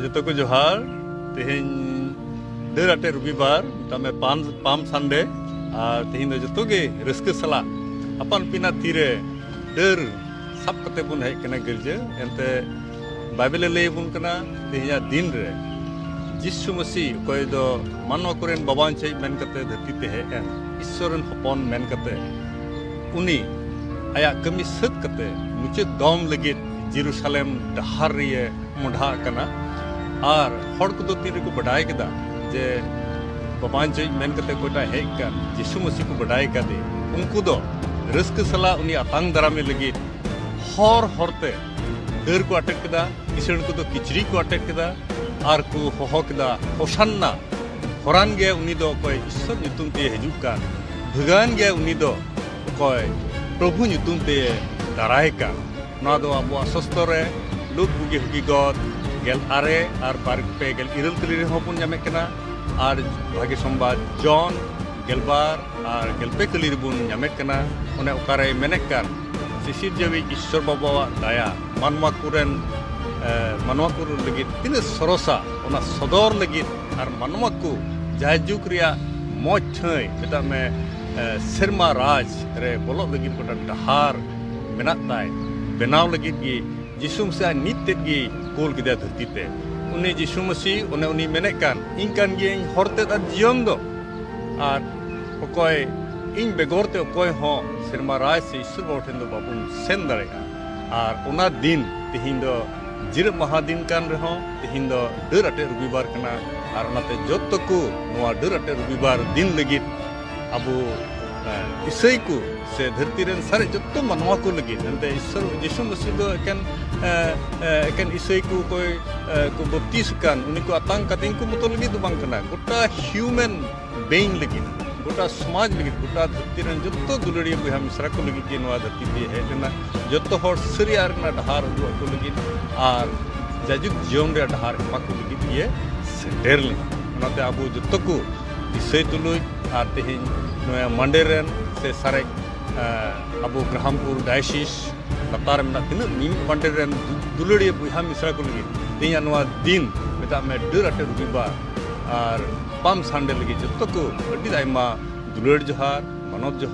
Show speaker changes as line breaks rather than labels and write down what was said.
ᱡᱚᱛᱚ ᱠᱚ ᱡᱚᱦᱟᱨ ᱛᱮᱦᱮᱧ ᱰᱟᱹᱨ ᱟᱴᱮ ᱨᱚᱵᱤᱵᱟᱨ ᱢᱮᱛᱟᱜ ᱢᱮ ᱯᱟᱢ ᱯᱟᱢ ᱥᱟᱱᱰᱮ ᱟᱨ ᱛᱮᱦᱮᱧ ᱫᱚ ᱡᱚᱛᱚ ᱜᱮ ᱨᱟᱹᱥᱠᱟᱹ ᱥᱟᱞᱟᱜ ᱟᱯᱟᱱ ᱯᱤᱱᱟ ᱛᱤᱨᱮ ᱰᱟᱹᱨ ᱥᱟᱵ ᱠᱟᱛᱮ ᱵᱚᱱ ᱦᱮᱡ ᱠᱟᱱᱟ ᱜᱤᱨᱡᱟᱹ ᱮᱱᱛᱮ ᱵᱟᱭᱵᱮᱞᱮ ᱞᱟᱹᱭ ᱟᱵᱚᱱ ᱠᱟᱱᱟ ᱛᱮᱦᱮᱧᱟᱜ ᱫᱤᱱ ᱨᱮ ᱡᱤᱥᱩ ᱢᱟᱹᱥᱤ ᱚᱠᱚᱭ ᱫᱚ ᱢᱟᱱᱣᱟ ᱠᱚᱨᱮᱱ ᱵᱟᱵᱟᱱ ᱪᱮᱫ ᱢᱮᱱ ᱠᱟᱛᱮ ᱫᱷᱟᱹᱨᱛᱤ ᱛᱮ ᱦᱮᱡ ᱮᱱ ᱤᱥᱥᱚᱨ ᱨᱮᱱ ᱦᱚᱯᱚᱱ ᱢᱮᱱ ᱠᱟᱛᱮ ᱩᱱᱤ ᱟᱭᱟᱜ ᱠᱟᱹᱢᱤ ᱥᱟᱹᱛ ᱠᱟᱛᱮ ᱢᱩᱪᱟᱹᱫ ᱫᱚᱢ ᱞᱟᱹᱜᱤᱫ ᱡᱮᱨᱩᱥᱟᱞᱮᱢ ᱰᱟᱦᱟᱨ ᱨᱮᱭᱮ ᱢᱚᱰᱷᱟ ᱟᱠᱟᱱᱟ ᱟᱨ ᱦᱚᱲ ᱠᱚᱫᱚ ᱛᱤᱱ ᱨᱮᱠᱚ ᱵᱟᱰᱟᱭ ᱠᱮᱫᱟ ᱡᱮ ᱵᱟᱵᱟᱧᱪᱚᱭ ᱢᱮᱱ ᱠᱟᱛᱮ ᱚᱠᱚᱭᱴᱟᱜ ᱦᱮᱡ ᱠᱟᱱ ᱡᱤᱥᱩ ᱢᱟᱹᱥᱤ ᱠᱚ ᱵᱟᱰᱟᱭ ᱠᱟᱫᱮ ᱩᱱᱠᱩ ᱫᱚ ᱨᱟᱹᱥᱠᱟᱹ ᱥᱟᱞᱟᱜ ᱩᱱᱤ ᱟᱛᱟᱝ ᱫᱟᱨᱟᱢᱮ ᱞᱟᱹᱜᱤᱫ ᱦᱚᱨ ᱦᱚᱨᱛᱮ ᱰᱟᱹᱨ ᱠᱚ ᱟᱴᱮᱫ ᱠᱮᱫᱟ ᱠᱤᱥᱟᱹᱬ ᱠᱚᱫᱚ ᱠᱤᱪᱨᱤᱡ ᱠᱚ ᱟᱴᱮᱫ ᱠᱮᱫᱟ ᱟᱨ ᱠᱚ ᱦᱚᱦᱚ ᱠᱮᱫᱟ ᱦᱚᱥᱟᱱᱱᱟ ᱦᱚᱨᱟᱱ ᱜᱮ ᱩᱱᱤ ᱫᱚ ᱚᱠᱚᱭ ᱤᱥᱥᱚᱨ ᱧᱩᱛᱩᱢ ᱛᱮ ᱦᱤᱡᱩᱜ ᱠᱟᱱ ᱵᱷᱟᱹᱜᱟᱹᱱ ᱜᱮ ᱩᱱᱤ ᱫᱚ ᱚᱠᱚᱭ ᱯᱨᱚᱵᱷᱩ ᱧᱩᱛᱩᱢ ᱛᱮ ᱫᱟᱨᱟᱭ ᱠᱟᱱ ᱱᱚᱣᱟ ᱫᱚ ᱟᱵᱚᱣᱟᱜ ᱥᱚᱥᱛᱚ ᱨᱮ ᱞᱩᱠ ᱵᱩᱜᱤ ᱦᱩᱜᱤ ᱜᱚᱫ ᱜᱮᱞ ᱟᱨᱮ ᱟᱨ ᱵᱟᱨ ᱯᱮ ᱜᱮᱞ ᱤᱨᱟᱹᱞ ᱛᱟᱹᱞᱤ ᱨᱮᱦᱚᱸ ᱵᱚᱱ ᱧᱟᱢᱮᱫ ᱠᱟᱱᱟ ᱟᱨ ᱵᱷᱟᱜᱮ ᱥᱚᱢᱵᱟᱫ ᱡᱚᱱ ᱜᱮᱞᱵᱟᱨ ᱟᱨ ᱜᱮᱞᱯᱮ ᱠᱟᱹᱞᱤ ᱨᱮᱵᱚᱱ ᱧᱟᱢᱮᱫ ᱠᱟᱱᱟ ᱚᱱᱮ ᱚᱠᱟᱨᱮ ᱢᱮᱱᱮᱫ ᱠᱟᱱ ᱥᱤᱥᱤᱨ ᱡᱟᱹᱣᱤᱡ ᱤᱥᱥᱚᱨ ᱵᱟᱵᱟᱣᱟᱜ ᱫᱟᱭᱟ ᱢᱟᱱᱣᱟ ᱠᱚᱨᱮᱱ ᱢᱟᱱᱣᱟ ᱠᱚ ᱞᱟᱹᱜᱤᱫ ᱛᱤᱱᱟᱹᱜ ᱥᱚᱨᱚᱥᱟ ᱚᱱᱟ ᱥᱚᱫᱚᱨ ᱞᱟᱹᱜᱤᱫ ᱟᱨ ᱢᱟᱱᱣᱟ ᱠᱚ ᱡᱟᱭᱡᱩᱜᱽ ᱨᱮᱭᱟᱜ ᱢᱚᱡᱽ ᱴᱷᱟᱹᱭ ᱢᱮᱛᱟᱜ ᱢᱮ ᱥᱮᱨᱢᱟ ᱨᱟᱡᱽ ᱨᱮ ᱵᱚᱞᱚᱜ ᱞᱟᱹᱜᱤᱫ ᱜᱚᱴᱟ ᱰᱟᱦᱟᱨ ᱢᱮᱱᱟᱜ ᱛᱟᱭ ᱵᱮᱱᱟᱣ ᱞᱟᱹᱜᱤᱫ ᱜᱮ ᱡᱤᱥᱩ ᱢᱟᱹᱥᱤ ᱟᱡ ᱢᱤᱫ ᱛᱮᱫ ᱜᱮ ᱠᱳᱞ ᱠᱮᱫᱟ ᱫᱷᱟᱹᱨᱛᱤ ᱛᱮ ᱩᱱᱤ ᱡᱤᱥᱩ ᱢᱟᱹᱥᱤ ᱚᱱᱮ ᱩᱱᱤ ᱢᱮᱱᱮᱫ ᱠᱟᱱ ᱤᱧ ᱠᱟᱱ ᱜᱤᱭᱟᱹᱧ ᱦᱚᱨ ᱛᱮᱫ ᱟᱨ ᱡᱤᱭᱚᱱ ᱫᱚ ᱟᱨ ᱚᱠᱚᱭ ᱤᱧ ᱵᱮᱜᱚᱨ ᱛᱮ ᱚᱠᱚᱭ ᱦᱚᱸ ᱥᱮᱨᱢᱟ ᱨᱟᱡᱽ ᱥᱮ ᱤᱥᱚᱨ ᱵᱟᱵᱟ ᱴᱷᱮᱱ ᱫᱚ ᱵᱟᱵᱚᱱ ᱥᱮᱱ ᱫᱟᱲᱮᱭᱟᱜᱼᱟ ᱟᱨ ᱚᱱᱟ ᱫᱤᱱ ᱛᱮᱦᱮᱧ ᱫᱚ ᱡᱤᱨᱟᱹᱜ ᱢᱟᱦᱟ ᱫᱤᱱ ᱠᱟᱱ ᱨᱮᱦᱚᱸ ᱛᱮᱦᱮᱧ ᱫᱚ ᱰᱟᱹᱨ ᱟᱴᱮᱫ ᱨᱚᱵᱤᱵᱟᱨ ᱠᱟᱱᱟ ᱟᱨ ᱚᱱᱟᱛᱮ ᱡᱚᱛᱚ ᱠᱚ ᱱᱚᱣᱟ ᱰᱟᱹᱨ ᱟᱴᱮᱫ ᱨᱚᱵᱤᱵᱟᱨ ᱫᱤᱱ ᱞᱟᱹᱜᱤᱫ ᱟᱵᱚ ᱤᱥᱟᱹᱭ ᱠᱚ ᱥᱮ ᱫᱷᱟᱹᱨᱛᱤ ᱨᱮᱱ ᱥᱟᱨᱮ ᱡᱚᱛᱚ ᱢᱟᱱᱣᱟ ᱠᱚ ᱞᱟᱹᱜᱤᱫ ᱮᱱᱛᱮ ᱤᱥᱚᱨ ᱡᱤᱥᱩ ᱢᱟᱹᱥᱤ ᱫᱚ ᱮᱠᱮᱱ ᱮᱠᱮᱱ ᱤᱥᱟᱹᱭ ᱠᱚ ᱚᱠᱚᱭ ᱠᱚ ᱵᱟᱯᱛᱤᱥ ᱟᱠᱟᱱ ᱩᱱᱤ ᱠᱚ ᱟᱛᱟᱝ ᱠᱟᱛᱮ ᱩᱱᱠᱩ ᱢᱚᱛᱚ ᱞᱟᱹᱜᱤᱫ ᱫᱚ ᱵᱟᱝ ᱠᱟᱱᱟ ᱜᱚᱴᱟ ᱦᱤᱭᱩᱢᱮᱱ ᱵᱮᱝ ᱞᱟᱹᱜᱤᱫ ᱜᱚᱴᱟ ᱥᱚᱢᱟᱡᱽ ᱞᱟᱹᱜᱤᱫ ᱜᱚᱴᱟ ᱫᱷᱟᱹᱨᱛᱤ ᱨᱮᱱ ᱡᱚᱛᱚ ᱫᱩᱞᱟᱹᱲᱤᱭᱟᱹ ᱵᱚᱭᱦᱟ ᱢᱤᱥᱨᱟ ᱠᱚ ᱞᱟᱹᱜᱤᱫ ᱜᱮ ᱱᱚᱣᱟ ᱫᱷᱟᱹᱨᱛᱤ ᱛᱮ ᱦᱮᱡ ᱞᱮᱱᱟ ᱡᱚᱛᱚ ᱦᱚᱲ ᱥᱟᱹᱨᱤᱭᱟᱜ ᱨᱮᱱᱟᱜ ᱰᱟᱦᱟᱨ ᱩᱫᱩᱜ ᱟᱠᱚ ᱞᱟᱹᱜᱤᱫ ᱟᱨ ᱡᱟᱭᱡᱩᱜᱽ ᱡᱤᱭᱚᱱ ᱨᱮᱭᱟᱜ ᱰᱟᱦᱟᱨ ᱮᱢᱟ ᱠᱚ ᱞᱟᱹᱜᱤᱫ ᱜᱮ ᱥᱮᱴᱮᱨ ᱞᱮᱱᱟ ᱚᱱᱟᱛᱮ ᱟᱵᱚ ᱡᱚᱛᱚ ᱠᱚ ᱫᱤᱥᱟᱹᱭ ᱛᱩᱞᱩᱡ ᱟᱨ ᱛᱮᱦᱮᱧ ᱱᱚᱣᱟ ᱢᱟᱱᱰᱮ ᱨᱮᱱ ᱥᱮ ᱥᱟᱨᱮᱡ ᱟᱵᱚ ᱜᱨᱟᱦᱟᱢᱯᱩᱨ ᱰᱟᱭᱥᱤᱥ ᱞᱟᱛᱟᱨ ᱢᱮᱱᱟᱜ ᱛᱤᱱᱟᱹᱜ ᱢᱤᱢᱤᱫ ᱢᱟᱱᱰᱮ ᱨᱮᱱ ᱫᱩᱞᱟᱹᱲᱤᱭᱟᱹ ᱵᱚᱭᱦᱟ ᱢᱤᱥᱨᱟ ᱠᱚ ᱞᱟᱹᱜᱤᱫ ᱛᱮᱦᱮᱧᱟᱜ ᱱᱚᱣᱟ ᱫᱤᱱ ᱢᱮᱛᱟᱜ ᱢᱮ ᱰᱟᱹᱨ ᱟᱴᱮᱫ ᱨᱚᱵᱤᱵᱟᱨ ᱟᱨ ᱵᱟᱢ ᱥᱟᱱᱰᱮ ᱞᱟᱹᱜᱤᱫ ᱡᱚᱛᱚ ᱠᱚ ᱟᱹᱰᱤ ᱟᱭᱢᱟ ᱫᱩᱞᱟᱹᱲ ᱡᱚᱦᱟᱨ ᱢᱟᱱᱚᱛ ᱡᱚᱦᱟᱨ